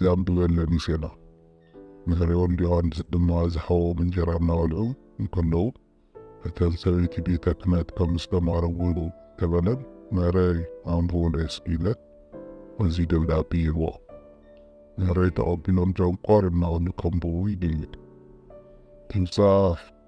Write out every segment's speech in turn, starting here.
ዘንብበለ ሙሴና ንፈርኦን ዮሃንስ ድማ ዝሃቦም እንጀራ እናበልዑ እንከለዉ እተን ሰበይቲ ቤተ ክህነት ከም ዝተማረጉ ተበለን መረይ ኣንብቡለይ እስኪ ኢለ እዚ ደብዳቤ ይህቦ መረይ ተቐቢሎም ጨንቆር እናበሉ ከንብቡ ይድይብ ትብጻሕ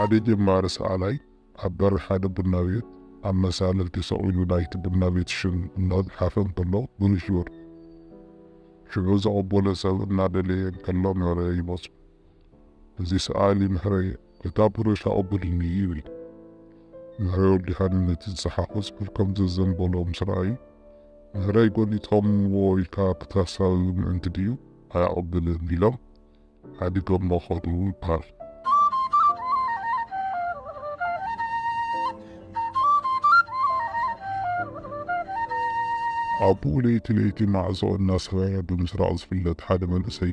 ሓደ ጀማሪ ሰኣላይ ኣብ በሪ ሓደ ቡና ቤት ኣብ መሳልል ተሰቒሉ ናይቲ ቡና ቤት ሽም እናፅሓፈ እንከሎ ብሩሹር ሽዑ ዘቐበሎ ሰብ እናደለየ እንከሎ ምህረየ ይመፆ። እዚ ሰኣሊ ምህረየ እታ ብሩሽ ኣቐብልኒ ይብል። ምህረይ ወዲሓኒ ነቲ ዝጸሓፎ ጽሑፍ ከም ዘዘንበሎ ምስ ረኣዩ፣ ምህረይ ጎኒጾምዎ ኢልካ ክተሳብብ ምእንቲ ድዩ? ኣይኣቐብልን ኢሎም ሓዲጎሞ ከዱ ይበሃል። ኣቡኡ ለይቲ ለይቲ ማዕጾ እናሰበረ ብምስራቕ ዝፍለጥ ሓደ መንእሰይ፣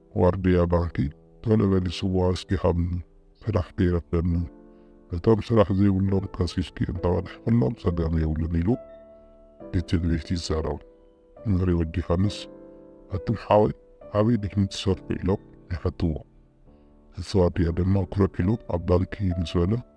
ዋርድያ ባንኪ ቶሎ በሊ ስዋ እስኪ ሃብኒ ስራሕ ከይረፍደኒ እቶም ስራሕ ዘይብሎም ከሲስኪ እንተቀድሕክሎም ፀገም የብሉን ኢሉ እቲ ቤት ይዛረብ መሪ ወዲ ዮሃንስ ኣቱም ሓወይ ኣበይ ዲኩም ትሰርሑ ኢሎም ይሓትዎ እቲ ዋርድያ ድማ ኩርዕ ኢሉ ኣብ ባንኪ ምስ በለ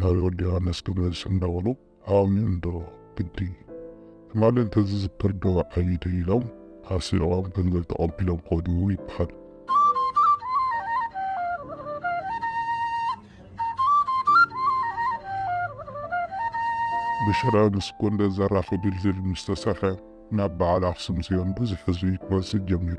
ናብ ወዲ ዮሃንስ ክንመልስ እንዳ በሉ ኣእምዩ እንዶ ግዲ ትማሊ እንተዝዝክር ዶ ዓብዪ ድዩ ኢሎም ኣስሪቖም ገንዘብ ተቐቢሎም ከዱ ይበሃል። ብሽረ ምስ ጎንደር ዘራኽብ ድልድል ምስ ተሰርሐ ናብ በዓል ኣኽሱም ፅዮን ብዙሕ ህዝቢ ክመፅእ ጀሚሩ።